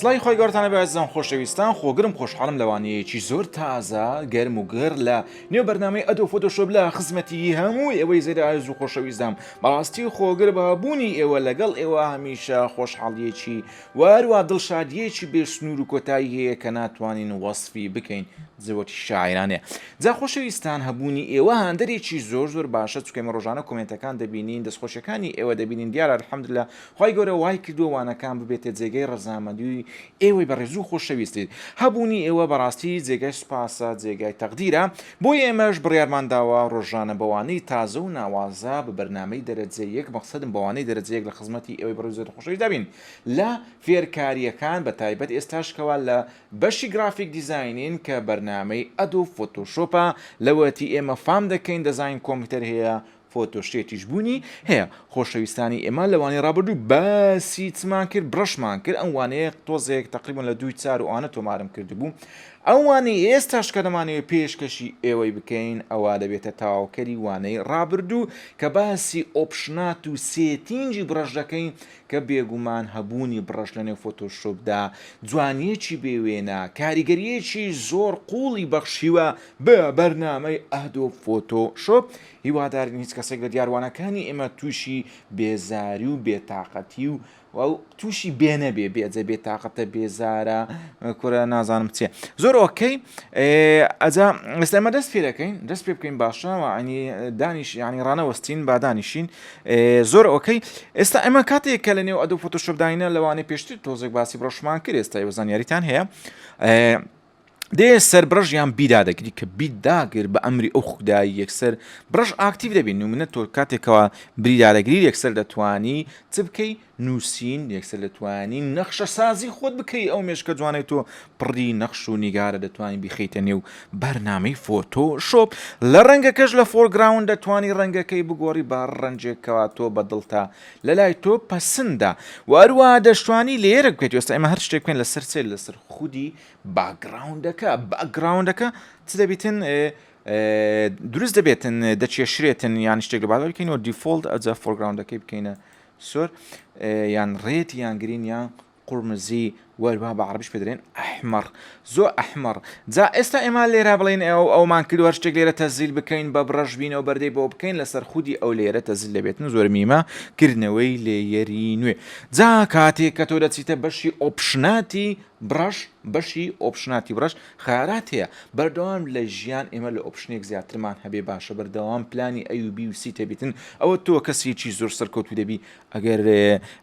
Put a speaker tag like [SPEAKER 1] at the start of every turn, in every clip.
[SPEAKER 1] سلای خۆی گەورتانە بەزم خۆشەویستان خۆگرم خۆشحاڵم لەوانەیەکی زۆر تازە گەرم و گەر لە نێو بەرنمەی ئەدۆ فۆتۆشۆب لە خزمەتی هەموو ئێوەی زێرە ئاز و خۆشەویستدام بەڕاستی خۆگر بابوونی ئێوە لەگەڵ ئێوە هەمیشە خۆشحاڵیەکی و هەروا دڵشادییەکی بێ سنوور و کۆتایی هەیە کە ناتوانین وەسفی بکەین، زەوەتی شاعیرانەیە. جا خۆشەویستان هەبوونی ئێوە هاندەرێکی زۆر زۆر باشە چونکە ئێمە ڕۆژانە کۆمێنتەکان دەبینین، دەستخۆشیەکانی ئێوە دەبینین دیارە الحمدللە خوای گەورە وای کردووە وانەکان ببێتە جێگەی ڕەزامەندی ئێوەی بەڕێزو خۆشەویست. هەبوونی ئێوە بەڕاستی جێگای سوپاسە، جێگای تەقدیرە. بۆیە ئێمەش بڕیارمان داوە ڕۆژانە بەوانەی تازە و ناوازە بە بەرنامەی دەرەجە یەک مەقسەدم بەوانەی دەرەجە یەک لە خزمەتی ئێوەی بەڕێز و خۆشەویستدا بین لە فێرکارییەکان بە تایبەت ئێستاش کەوا لە بەشی گرافیک دیزاینین کە بەرنامەی ئەدۆب فۆتۆشۆپە لەوەتی ئێمە فام دەکەین دەزاین کۆمپیوتەر هەیە فۆتۆشێتیش بوونی هەیە خۆشەویستانی ئێمە لە وانەی ڕابردوو باسی چمان کرد بڕەشمان کرد ئەم وانەیە تۆزێک تقریبان لە دووی چار و ئەوانە تۆمارم کردبوو ئەوانەی ئێستاش کە دەمانەوێت پێشکەشی ئێوەی بکەین ئەوە دەبێتە تاواوکەری وانەی ڕابردوو کە باسی ئۆپشنات و سێتینجی بڕەش دەکەین کە بێگومان هەبوونی بڕەش لە نێو فۆتۆشۆپدا جوانیەکی بێوێنە کاریگەریەکی زۆر قوڵی بەخشیوە بە بەرنامەی ئەهدۆ فۆتۆشۆپ هیوادارین هیچ کەسێک لە دیاروانەکانی ئێمە تووشی بێزاری و بێتاقەتی و و تووشی بێنە بێ بێجە بێ تااقەتە بێزارە کورە نازانم چێ زۆر ئۆکەی ئەجا ئێستامە دەست پێ دەکەین دەست پێ بکەین باشەوە ئەنی دانیش ینی ڕانەوەستین بادانیشین زۆر ئۆکەی ئێستا ئەمە کاتێک کە لە نێو ئەدو فۆتۆشپداینە لەوانەیە پێشتر تۆزێک باسی بڕۆشمان کرد ئێستا وەزانیاریتان هەیە دێ سەربڕژ یان بیدا دەگری کە بیداگر بە ئەمری ئەو خودایی یەکسەر بڕژ ئاکتیو دەبین نمونە تۆ کاتێکەوە بریدارەگری یەکسەر دەتوانی چ بکەی نووسین یەکسەر دەتوانی نەخشە سازی خۆت بکەی ئەو مێشکە جوانێت تۆ پڕی نەخش و نیگارە دەتوانانی بیخیتە نێو بەرنامەی فۆتۆ شۆپ لە ڕەنگەکەش لە فۆرگراون دەتوانی ڕەنگەکەی بگۆڕی با ڕەنجێکەوە تۆ بەدڵتا لە لای تۆ پەسندا وەروە دەشتوانی لێرە بکەیت وەستا ئمە هەر شتێک بکەین لەسەر سێ لەسەر خودی باکگراوندەکە باکگراوندەکە چ دەبیتن دروست دەبێتن دەچێشرێتن یان شتێک لە بادە بکەینەوە دیفۆلت ئەجا فۆرگراوندەکەی بکەینە سۆر یان ڕێت یان گرین یان قورمزی وەربا بە عربش پێدرێن ئەحمەڕ زۆ ئەحمەڕ جا ئێستا ئێمە لێرا بڵێن ئەو ئەومان کردوە شتێک لێرە تەزیل بکەین بە بڕەش بینەوە بەردەی بۆ بکەین لەسەر خودی ئەو لێرە تەزیل دەبێتن زۆر میمە کردنەوەی لێیەری نوێ جا کاتێ کە تۆ دەچیتە بەشی ئۆپشناتی بڕەش بەشی ئۆپشناتی بڕەش خارات هەیە بەردەوام لە ژیان ئێمە لە ئۆپشنێک زیاترمان هەبێ باشە بەردەوام پلانی ئەوبی و سیتە بتن ئەوە تۆ کەسێکی زۆر سەرکەوتو دەبی ئەگەر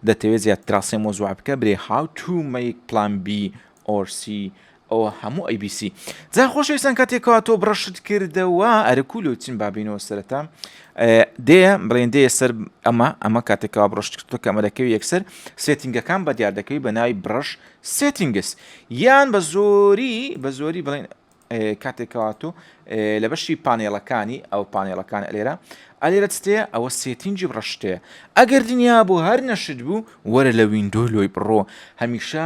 [SPEAKER 1] دەتەوێت زیاد تراسێ مۆزوع بکە برێ هاو تو میک پلان بی ئۆرسی ئەوە هەموو ئەی بی سی. جا خۆشەویستان کاتێک کەوا تۆ بڕەشت کردەوە ئەرە کو لۆ چین بابینەوە سەرەتا دێ بڵێن دێ سەر ئەمە ئەمە کاتێکەوە بڕشت کردو کەمەرەکەوی یەکسەر سێتینگەکان بە دیار دەکەوی بە ناوی بڕش سێتینگس یان بە زۆری بە زۆری بڵێن کاتێکەوە تۆ لە بەشی پانێڵەکانی ئەو پانێڵەکان ئەلێرە ئەلێرە تێ ئەوە سێتینجی بڕشتەیە ئەگەر دنیا بۆ هەر نەشت بوو وەرە لە وینندۆ لۆی بڕۆ هەمیشە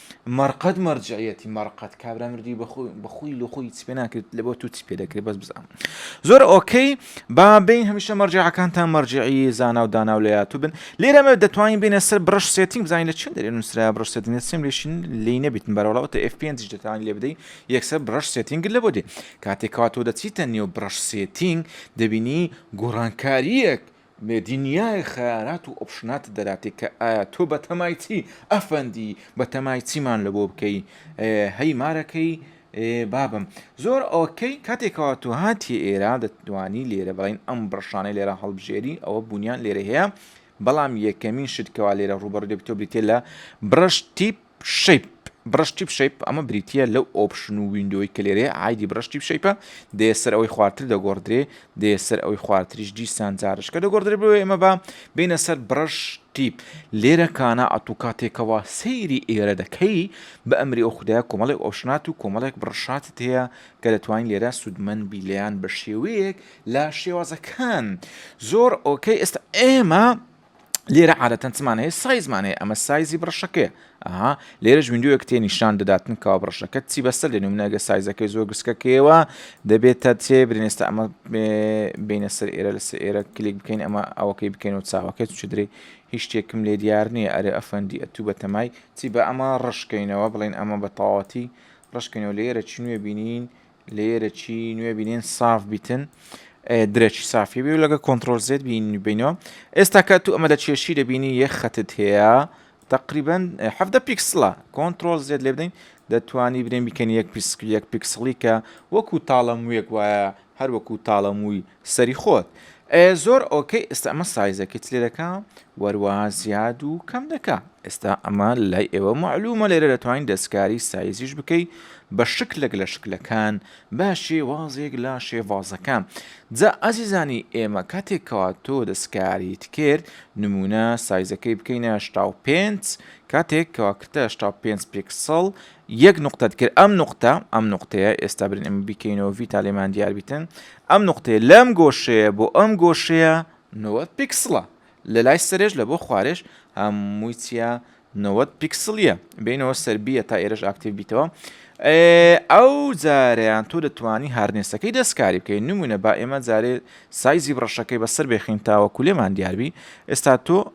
[SPEAKER 1] مەرقەد مەرجعیەتی مەرقەد کابرا مردوی بەخوی لۆ خۆی چپێ ناکرێت لە بۆ تو چپێ دەکرێت بەس بزان زۆر ئۆکەی با بین هەمیشە مەرجعەکانتان مەرجعی زانا و دانا و لەیاتو بن لێرەمە دەتوانین بینە سەر برش سێتینگ بزانین لە چین دەێن نووسرا برش سێتینگ سم لێشین لی نەبیتن بەرەڵاوتە F پێ دەتوانین لێ بدەین یەکسەر برش سێتینگ لە بۆ دێ کاتێکاتۆ دەچیتە نێو برش سێتینگ دەبینی گۆڕانکاریەک مێدینیای خەیارات و ئۆپشنات دەراتێ کە ئایا تۆ بەتەمای چی ئەفەندی بەتەمای چیمان لەبۆ بکەی هەی مارەکەی بابم زۆر ئۆکەی کاتێکەوە تۆ هاتی ئێرا دەتوانی لێرە بڵین ئەم بڕشانەی لێرە هەڵبژێری ئەوە بوونیان لێرە هەیە بەڵام یەکەمین شتکەوا لێرە ڕوبەڕ دەبتۆ بریتێ لە بڕش تیپ شەیپ، بڕەش تیپ شەیپ، ئەمە بریتییە لەو ئۆپشن و ویندۆی کە لێرەیە، عایدی بڕەش تیپ شەیپە، دەیە سەر ئەوەی خوارتر دەگۆڕدرێ، دەیە سەر ئەوەی خوارتریش دیسان جارشکە دەگۆڕدرێ بۆیە ئێمە با بێینە سەر بڕەش تیپ. لێرە کانا ئەتوو کاتێکەوە سەیری ئێرە دەکەی بە ئەمری ئەو خودایە کۆمەڵێک ئۆپشنات و کۆمەڵێک بڕەشاتت هەیە کە دەتوانین لێرە سوودمەند بی لێیان بە شێوەیەک لە شێوازەکان زۆر ئۆکەی ئێستا ئێمە لێرە عادەتەن چمان هەیە سایزمان هەیە ئەمە سایزی بڕشەکەی ئەها لێرەش ویندوەک تێ نیشان دەداتن کاوا بڕشەکە چی بەسەر لێن منەگە سایزەکەی زۆر گسکەکەیەوە دەبێتە تێ برێنێستا ئەمە بینە سەر ئێرە لە سەر ئێرە کلیک بکەین ئەمە ئەوەکەی بکەین و چاوەکەی چ درێ هیچ شتێکم لێ دیار نییە ئەرێ ئەفەندی ئەتوو بە تەمای چی بە ئەمە ڕشکەینەوە بڵین ئەمە بە تەواتی ڕشکەینەوە لێرە چ نوێ بینین لەیەرە چی نوێ بینین ساف بیتن درەچی سافی بی و لەگە کۆنتترۆل زێت بینینەوە ئێستا کە تو ئەمە لە چێشی دەبینی یە خەتت هەیە تقریبن هەفتە پیکسلا کۆنتترۆل زێت لێ بدەین دەتوانی برێن بیکەن یەک پیسک یەک پیکسڵی کە وەکو تاڵە موێک وایە هەر وەکو تاڵە مووی سەری خۆت ئەیە زۆر ئۆکەی ئێستا ئەمە سایزەکەی چ لێ دەکا وەروا زیاد و کەم دەکا ئێستا ئەمە لای ئێوە معلومە لێرە دەتوانین دەستکاری سایزیش بکەی بە شکلێک لە شکلەکان بە شێوازێک لە شێوازەکان جا ئازیزانی ئێمە کاتێکەوە تۆ دەستکاریت کرد نمونە سایزەکەی بکەینە شتا و پێنج کاتێک کەواکردە شتا پێنج پێکسەڵ یەک نوقتەت کرد ئەم نوقتە ئەم نوقتەیە ئێستا برن ئەمە بیکەینەوە ڤیتا لێمان دیار بیتن ئەم نوقتەیە لەم گۆشەیە بۆ ئەم گۆشەیە نەوە پیکسڵە لە لای سەرێش لە بۆ خوارێش هەمووی چیە نەوەت پیکسلیە بینەوە سربیە تا ئێرەش ئاکتیو بیتەوە ئەو جاریان تۆ دەتوانی هارنێسەکەی دەستکاری بکەین نمونە با ئێمە جارێ سایزی بڕەشەکەی بەسەر بێخین تاوە کولێمان دیاربی ئێستا تۆ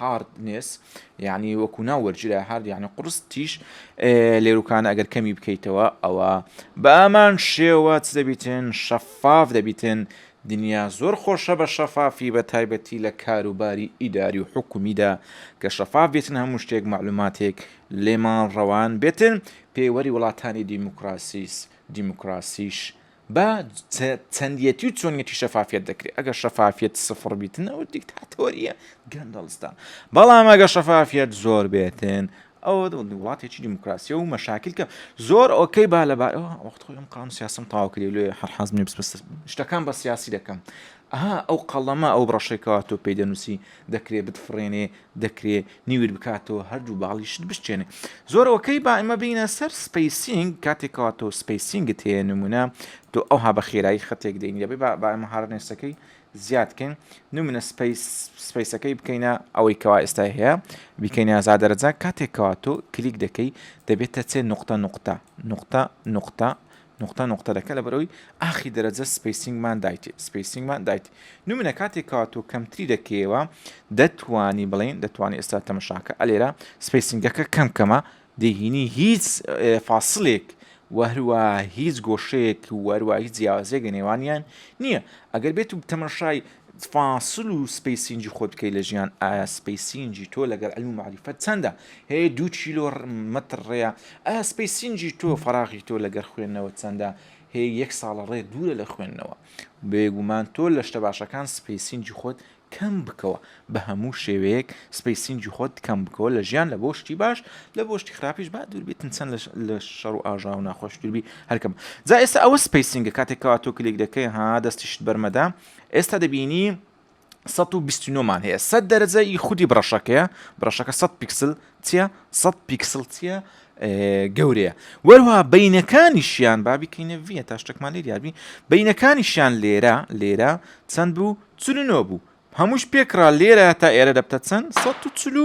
[SPEAKER 1] Hardness، یانی وەکو ناو وەرگیرا هارد یانی قوڕس تیژ لێروکانە ئەگەر کەمی بکەیتەوە ئەوە بە ئەمان شێوە چ دەبیتن شەفاف دەبیتن دنیا زۆر خۆشە بە شەفافی بە تایبەتی لە کاروباری ئیداری و حکومیدا کە شەفاف بێتن هەموو شتێک مەعلوماتێک لێمان ڕەوان بێتن پێوەری وڵاتانی دیموکراسیس دیموکراسیش با چەندیەتی و چۆنیەتی شەفافیەت دەکرێت ئەگەر شەفافیەت سفر بیتن ئەو دیکتاتۆریە گەندەڵستان بەڵام ئەگە شەفافیەت زۆر بێتن ئەوە وڵاتێکی دیموکراسی و مەشاکلکە زۆر ئۆکەی با لەبار وەخت خۆی ئەم قام سیاسم تاواکری لێ هەر حەز منی بس شتەکان بە سیاسی دەکەم ئەها ئەو قەڵەمە ئەو بڕەشێکەوە تۆ پێی دەنووسی دەکرێت بتفرێنێ دەکرێ نیوت بکاتەوە هەردوو باڵیشت بشچێنێ زۆر ئۆکەی با ئمە بینە سەر سپیسینگ کاتێکەوە تۆ سپیسینگت هەیە نمونە تۆ ئەوها بە خێرایی خەتێک دەین دەبێ با ئمە هاڕنێسەکەی زیادکەین نمونە سپیس سپیسەکەی بکەینە ئەوەی کەوا ئێستای هەیە بیکەین یازا دەرەجە کاتێکەوە تۆ کلیک دەکەی دەبێتە چێ نقطە نقطە نقطە نقطە نوقتە نوقتە دەکە لە بەرەوەی ئاخی دەرەجە سپەیسینگمان دایت سپەیسینگمان دایت نمونە کاتێک کەوا تۆ کەمتری دەکەیەوە دەتوانی بڵێن دەتوانانی ئێستا تەمەشاکە ئەلێرە سپەیسینگەکە کەم کەمە دەهینی هیچ فاسلێک وەهروە هیچ گۆشەیەک وەروە هیچ جیاوازێک لە نێوانیان نییە ئەگەر بێت و تەمەشای فاسل و سپەیسینگی خۆت بکەی لە ژیان ئایا سپەیسینگی تۆ لەگەر علم و معریفەت چەندە هەیە دوو کیلۆ مەتر ڕێە ئایا سپەیسینگی تۆ فەراغی تۆ لەگەر خوێندنەوە چەندە هەیە یەک ساڵە ڕێ دوورە لە خوێندنەوە بێگومان تۆ لە شتە باشەکان سپەیسینگی خۆت کەم بکەوە بە هەموو شێوەیەک سپەیسینگی خۆت کەم بکەوە لە ژیان لە بۆ شتی باش لە بۆ شتی خراپیش با دووربیتن چەند لە شەڕ و ئاژا و ناخۆش دووربی هەرکەم جا ئێستا ئەوە سپەیسینگە کاتێکەوە تۆ کلێک دەکەی ها دەستیشت بەرمەدا ئێستا دەبینی سەد و بیست و نۆ مان هەیە سەد دەرەجە ی خودی بڕەشەکەیە بڕەشەکە سەد پیکسل چیە سەد پیکسل چیە گەورەیە وەروها بینەکانیشیان بابی کەینە ڤە تا شتێکمان لێ دیاربی بینەکانیشیان لێرە لێرە چەند بوو چلو نۆ بوو هەمووش پێکرا لێرە تا ئێرە دەبتە چەند سەد و چلو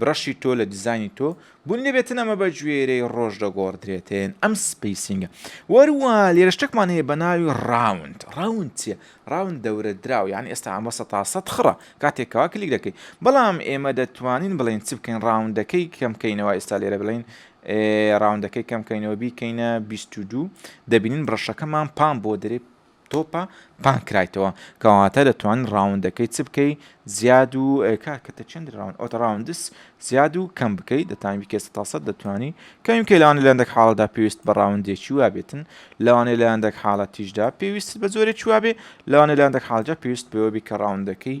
[SPEAKER 1] برشی تۆ لە دیزانی تۆ بوون دەبێتن ئەمە بە گوێرەی ڕۆژ دەگۆڕدرێتێن ئەم سپیسینگە وەروە لێرە شتێکمان هەیە بە ناوی ڕاوند ڕاوند چیە ڕاوند دەورە دراو یان ئێستا ئەمە سە تا سە خڕە کاتێکەوە کلیک دەکەیت بەڵام ئێمە دەتوانین بڵین چ بکەین ڕاوندەکەی کەمکەینەوە ئێستا لێرە بڵین ڕاوندەکەی کەمکەینەوە بیکەینە 22 دەبینین بڕەشەکەمان پام بۆ دەێ تۆپە پان کرایتەوە کەواتە دەتوان ڕاوندەکەی چ بکەی زیاد و کار کە چەند ڕاون ئەوتە ڕاوندس زیاد و کەم بکەی دەتانی بکە سە تاسە دەتوانی کەم کە لەوانە لەندەک حاڵدا پێویست بە ڕاوندێکی وابێتن لەوانەیە لەندەک حاڵەتیشدا پێویست بە زۆرێک وابێ لەوانە لەندەک حاڵجا پێویست بەوەبی کە ڕاوندەکەی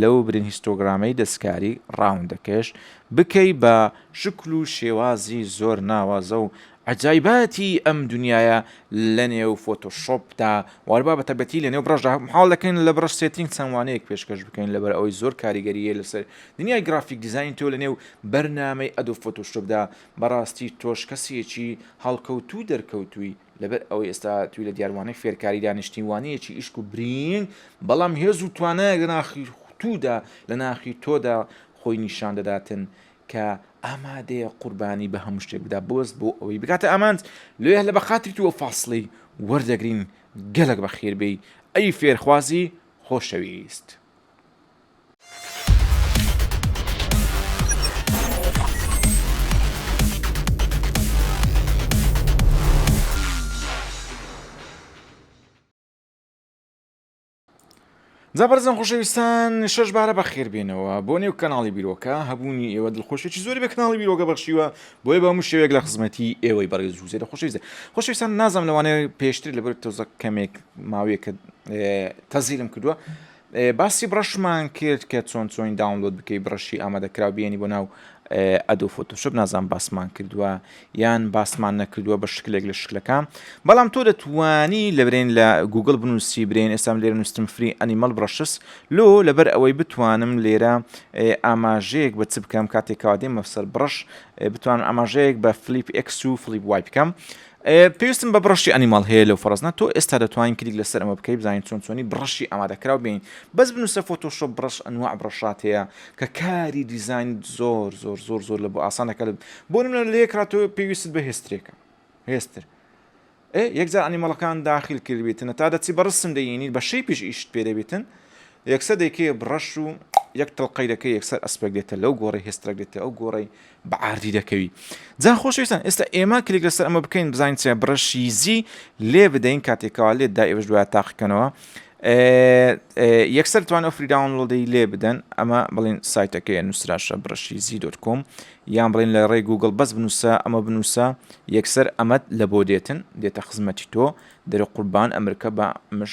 [SPEAKER 1] لەو برین هیستۆگرامەی دەستکاری ڕاوندەکەش بکەی بە شکل و شێوازی زۆر ناوازە و عەجایباتی ئەم دونیایە لە نێو فۆتۆشۆپدا وار با بەتەبەتی لە نێو بڕەشدا محاڵ دەکەین لە بڕەش سێتینگ چەند وانەیەک پێشکەش بکەین لەبەر ئەوەی زۆر کاریگەریە لەسەر دنیای گرافیک دیزاین تۆ لە نێو بەرنامەی ئەدۆب فۆتۆشۆپدا بەڕاستی تۆش کەسێکی هەڵکەوتوو دەرکەوتووی لەبەر ئەوەی ئێستا توی لە دیاروانەی فێرکاریدا نیشتیوانەیەکی ئیشک و برینگ بەڵام هێز و توانایەک لە ناخی تودا لە ناخی تۆدا خۆی نیشان دەداتن کە ئامادەیە قوربانی بە هەموو شتێک بدا بۆست بۆ ئەوەی بکاتە ئامانج لێ لە بەخاتری تووە فاصلی وەردەگرین گەلک بە خێربێی ئەی فێرخوازی خۆشەویست. زەبەرزم خۆشەویستان شش بارە بەخێربێنەوە بۆ نێو کەناڵی بیرۆکە هەبوونی ئێوە دڵخۆشێکی زۆری بە کەناڵی بیرۆکە بەخشیوە بۆی بە هەموو شێوێک لە خزمەتی ئێوەی بەڕێز جوزێرە خۆشەویستە خۆشەویستان نازم لەوانەیە پێشتر لەبەر تۆزە کەمێک ماوەیەکە تەزیرم کردووە باسی بڕەشمان کرد کە چۆن چۆنی داونلۆد بکەی بڕەشی ئامادەکراو بێنی بۆ ناو ئەدۆ فۆتۆشپ نازان باسمان کردووە یان باسمان نەکردووە بە شکلێک لە شکلەکان بەڵام تۆ دەتوانی لە برێن لە گوگل بنووسی برێن ئێستام لێرە نووسم فری ئەنیمەڵ بڕەشس لۆ لەبەر ئەوەی بتوانم لێرە ئاماژەیەک بە چ بکەم کاتێکاوا دێمە سەر بڕش بتوانم ئاماژەیەک بە فلیپ ئەکس و فلیپ وای بکەم و پێویستم بە بڕەشی ئەنیماڵ هەیە لەو فەڕزنە تۆ ئێستا دەتوانین کلیک لەسەر ئەمە بکەی بزانین چۆن چۆنی بڕەشی ئامادەکراو بین بەس بنووسە فۆتۆشۆپ بڕەش ئەنواع بڕەشات هەیە کە کاری دیزاین زۆر زۆر زۆر زۆر لە بۆ ئاسانەکە بۆ نمونە لە یەکرا تۆ پێویست بە هێسترێکە هێستر یەکجار ئەنیمەڵەکان داخل کردبێتن تا دەچی بەڕسم دەینی بە شەی پیش ئیشت پێ دەبێتن یەکسە دەیکێ بڕەش و یەک تڵقەی دەکە یەکسەر ئەسپێک دێتە لەو گۆڕی هێسترەک دێتە ئەو گۆڕی بە عاردی دەکەوی. جا خۆشەویستان ئێستا ئێمە کلیک لەسەر ئەمە بکەین بزانین چیە بڕەشیزی لێ بدەین کاتێکەوە لێت دا ئێوەش دوای تاقیکەنەوە یەکسەر توانە فری داونلۆدەی لێ بدەن ئەمە بڵین سایتەکەی نووسراشە بڕەشیزی دۆت کۆم یان بڵین لە ڕێ گوگل بەس بنووسە ئەمە بنووسە یەکسەر ئەمەد لە بۆ دێتن دێتە خزمەتی تۆ دەرە قوربان ئەمریکا بە مش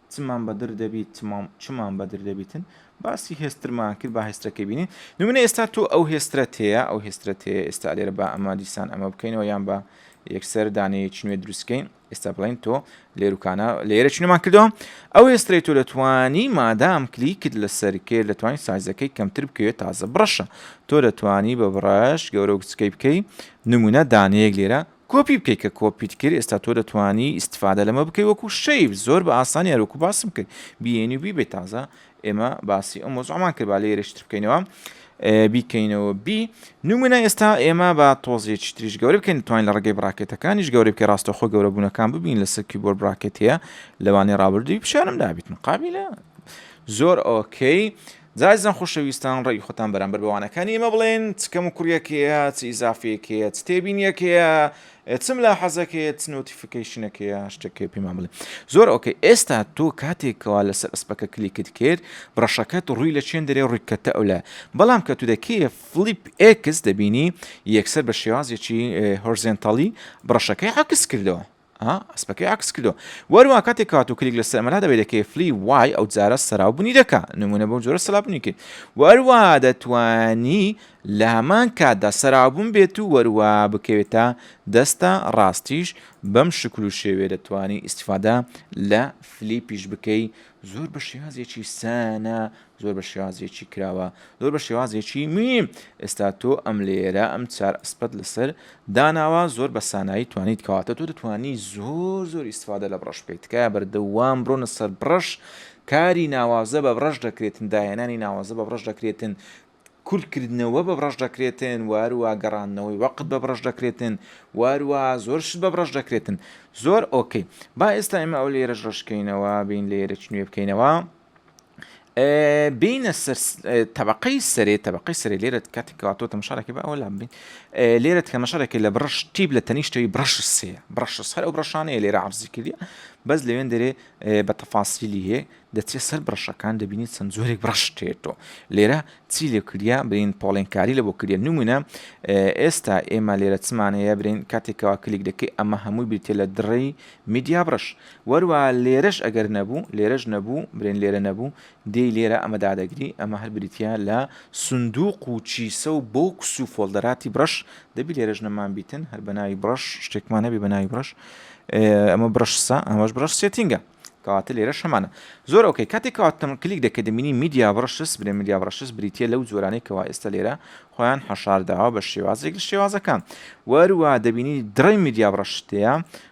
[SPEAKER 1] چمان بەدر دەبیت چمان چمان بەدر دەبیتن باسی هێسترمان کرد با هێسترەکەی بینین نمونە ئێستا تۆ ئەو هێسترەت هەیە ئەو هێسترەت هەیە ئێستا لێرە با ئەمە دیسان ئەمە بکەینەوە یان بە یەکسەر دانەیەکی نوێ دروستکەین ئێستا بڵین تۆ لێروکانە لێرە چنمان کردەوە ئەو ئێسترەی تۆ دەتوانی مادام کلیکت لەسەر کرد دەتوانین سایزەکەی کەمتر بکەوێت تازە بڕەشە تۆ دەتوانی بە بڕەش گەورە و کچکەی بکەی نمونە دانەیەک لێرە کۆپی بکەی کە کۆپیت کرد ئێستا تۆ دەتوانی ئیستفادە لەمە بکەی وەکو شەیف زۆر بە ئاسانی هەروەکو باسم کرد بیێنی و بیبێت تازە ئێمە باسی ئەو مۆزعمان کرد با لێرەشتر بکەینەوە بیکەینەوە بی نمونە ئێستا ئێمە بە تۆزیێکی تریش گەورە بکەین توانین لە ڕگەی براکێتەکانیش گەورە بکە ڕاستەخۆ گەورەبوونەکان ببین لە سەرکی بۆر براکێت هەیە لەوانی ڕابردووی پیشانم دابیت مقابلە زۆر ئۆکەی زازیزان خۆشەویستان ڕەئی خۆتان بەرامبەر بە وانەکانی ئێمە بڵێن چ کەم و کوڕیەک هەیە چ ئیزافەیەک هەیە چ تێبینیەک هەیە چ ملاحەزەک هەیە چ نۆتیفیکەیشنەک هەیە شتێک هەیە پێمان بڵێ زۆر ئۆکەی ئێستا تۆ کاتێکەوە لەسەر ئەسپەکە کلیکت کرد بڕەشەکەت ڕووی لە چێن دەرێ ڕوویکەتە ئەو لە بەڵام کە تو دەکەی فلیپ ئێکس دەبینی یەکسەر بە شێوازێکی هۆرزێنتاڵی بڕەشەکەی عکس کردەوە ئا ئەسپەکەی عەکس کردوە وەروا کاتێک کات و کلیک لەسەر ئەمەلا دەبێت دەکەی فلی وای ئەو جارە سەراو بنی دەکا نمونە بەو جۆرە سەلا بنی کرد وەروا دەتوانی لە هەمان کاتدا سەرابوون بێت و وەروا بکەوێتە دەستە ڕاستیش بەم شکل و شێوێ دەتوانی ئیسفادا لە فلیپیش بکەی زۆر بە شێوازێکی سانە زۆر بە شێوازێکی کراوە زۆر بە شێوازێکی میم ئێستا تۆ ئەم لێرە ئەم چار ئەسپەت لەسەر داناوە زۆر بە سانایی توانیت کەواتە تۆ دەتوانی زۆر زۆر ئیسفادە لە بڕەش بکەیت تکایە بەردەوام بڕۆنە سەر بڕەش کاری ناوازە بە بڕەش دەکرێتن داهێنانی ناوازە بە بڕەش دەکرێتن کورتکردنەوە بە بڕەش دەکرێتن وارووا گەڕاندنەوەی وەقت بە بڕەش دەکرێتن وارووا زۆر شت بە بڕەش دەکرێتن زۆر ئۆکەی با ئێستا ئمە ئەو لێرە ڕشکەینەوە بین لێرە چ نوێ بکەینەوە بێینە سەر تەبقەی سەرێ تەبقەی سەرێ لێرە کاتی کاتۆ تەمەشارەکە بە ئەولا بین لێرە تەمەشارەکە لە بڕش تیب لە تەنیشتەوەی بڕش سێ بڕش هەر ئەو بڕشانەیە لێرە عرزی کردی بەس لەوێن دەرێ بە تەفاسیلی هەیە دەچێت سەر بڕشەکان دەبینیت چەند زۆرێک بڕشتێتەوە لێرە چی لێ کردیا برین پۆڵێنکاری لە بۆ کردە نمونە ئێستا ئێمە لێرە چمانەیە برین کاتێکەوە کلیک دەکەی ئەمە هەمووی بریتە لە دڕی میدیا بڕش وەروا لێرەش ئەگەر نەبوو، لێرەش نەبوو، برێن لێرە نەبوو، دێی لێرە ئەمە دادەگری، ئەمە هەر بریتییە لە سندووق و کیسە و بۆکس و فۆڵدەراتی بڕەش، دەبی لێرەش نەمانبیتن، هەر بە ناوی بڕەش شتێکمان هەبێ بە ناوی بڕەش، ئەمە بڕەش سە، ئەمەش بڕەش سێتینگە. کەواتە لێرەش هەمانە. زۆر ئۆکەی. کاتێک کەواتە کلیک دەکەی دەبینی میدیا بڕەشس، برێن میدیا بڕەشس بریتییە لەو جۆرانەی کەوا ئێستا لێرە خۆیان حەشار داوە بە شێوازێک لە شێوازەکان. وەروا دەبینی دڕی میدیا بڕەشت تێیە،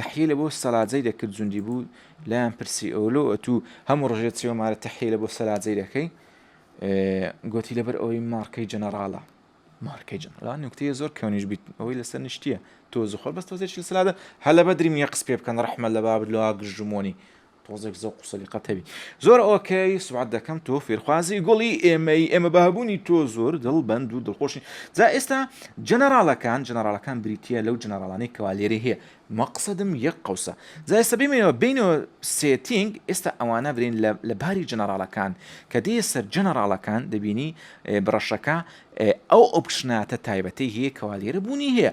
[SPEAKER 1] تحیلە بۆ سەلاجەی دەکرد جوندی بوو لایان پرسی ئەو لۆ ئەتوو هەموو ڕژێت چێوە مارە تحیلە بۆ سەلاجەی دەکەی گوتی لەبەر ئەوەی مارکەی جەنەراڵە مارکەی جەنەرا نوکتەیە زۆر کەونیش بیت ئەوەی لەسەر نیشتە تۆ زخۆر بەس تۆزێکی سلادە هەلە بەدریم یە قس پێ بکەن ڕحمە لە بابت لە گژمۆنی تۆزێک زەوق و سەلیقەت هەبی. زۆر ئۆکەی سوبعەت دەکەم تۆ فێرخوازی گوڵی ئێمەی ئێمە بە هەبوونی تۆ زۆر دڵ بەند و دڵخۆشین جا ئێستا جەنەراڵەکان جەنەراڵەکان بریتیە لەو جەنەراڵانەی کەوا لێرەی هەیە مەقسەدم یەک قەوسە جا ئێستا بێمەوە بێینەوە سێتینگ ئێستا ئەوانە برێن لە لە باری جەنەراڵەکان کە دێیە سەر جەنەراڵەکان دەبینی بڕەشەکە ئەو ئۆپشناتە تایبەتەی هەیە کەوا لێرە بوونی هەیە.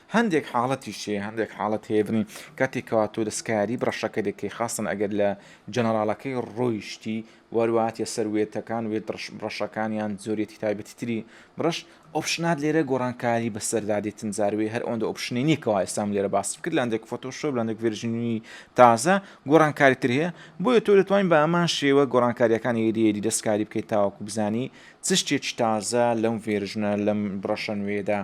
[SPEAKER 1] هەندێک حاڵەتیش هەیە هەندێک حاڵەت هەیە بڵێن کاتێک کەوا تۆ دەستکاری بڕەشەکە دەکەی خاستەن ئەگەر لە جەنەراڵەکەی ڕۆیشتی وەرو هاتیە سەر وێتەکان وێت دڕش بڕەشەکان یان جۆرێتی تایبەتی تری بڕەش ئۆپشنات لێرە گۆڕانکاری بەسەردا دێتن جاروێ هەر ئەوەندە ئۆپشنی نییە کەوا ئێستام لێرە باسم کرد لاندێک فۆتۆشۆپ لاندێک ڤێرژنی تازە گۆڕانکاری تر هەیە بۆیە تۆ دەتوانین بە ئەمان شێوە گۆڕانکاریەکانی ئێریەری دەستکاری بکەیت تاوەکو بزانی چ شتێکی تازە لەم ڤێرژنە لەم بڕەشە نوێدا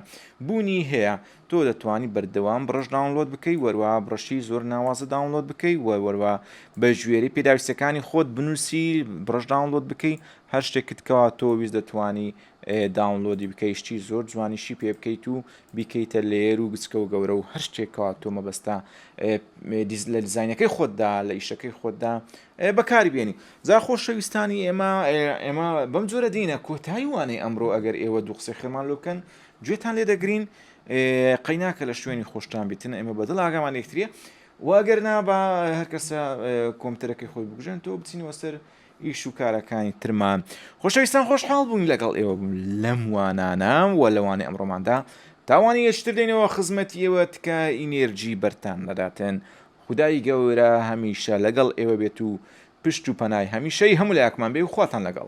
[SPEAKER 1] بوونی هەیە تۆ دەتوانی بەردەوام بڕەش داونلۆد بکەی وەروا بڕەشی زۆر ناوازە داونلۆد بکەی وە وەروا بە ژێری پێداویستەکانی خۆت بنووسی بڕەش داونلۆد بکەی هەر شتێکت کەوا تۆ ویست دەتوانی داونلۆدی بکەی شتی زۆر جوانیشی پێ بکەیت و بیکەیتە لێر و گچکە و گەورە و هەر شتێکەوە تۆ مەبەستا لە دیزینەکەی خۆتدا لە ئیشەکەی خۆتدا بەکاری بێنی جا خۆشەویستانی ئێمە ئێمە بەم جۆرە دینە کۆتایی وانەی ئەمڕۆ ئەگەر ئێوە دوو قسەی خێمان لۆکەن گوێتان لێ دەگرین قەیناکە لە شوێنی خۆشتان بیتن ئێمە بەدڵ ئاگامان یەکتریە و ئەگەر نا بە هەرکەسە کۆمتەرەکەی خۆی بگژێن تۆ بچینەوە سەر ئیش و کارەکانی ترمان خۆشەویستان خۆشحاڵ بوون لەگەڵ ئێوە بوون لەم وانانام و لەوانی ئەمڕۆماندا تاوانی یەشتر دێنەوە خزمەتی ئێوە تکە ئینێرجی بەرتان نەداتن خدای گەورە هەمیشە لەگەڵ ئێوە بێت و پشت و پەنای هەمیشەی هەموو لایەکمان بێ و خواتان لەگەڵ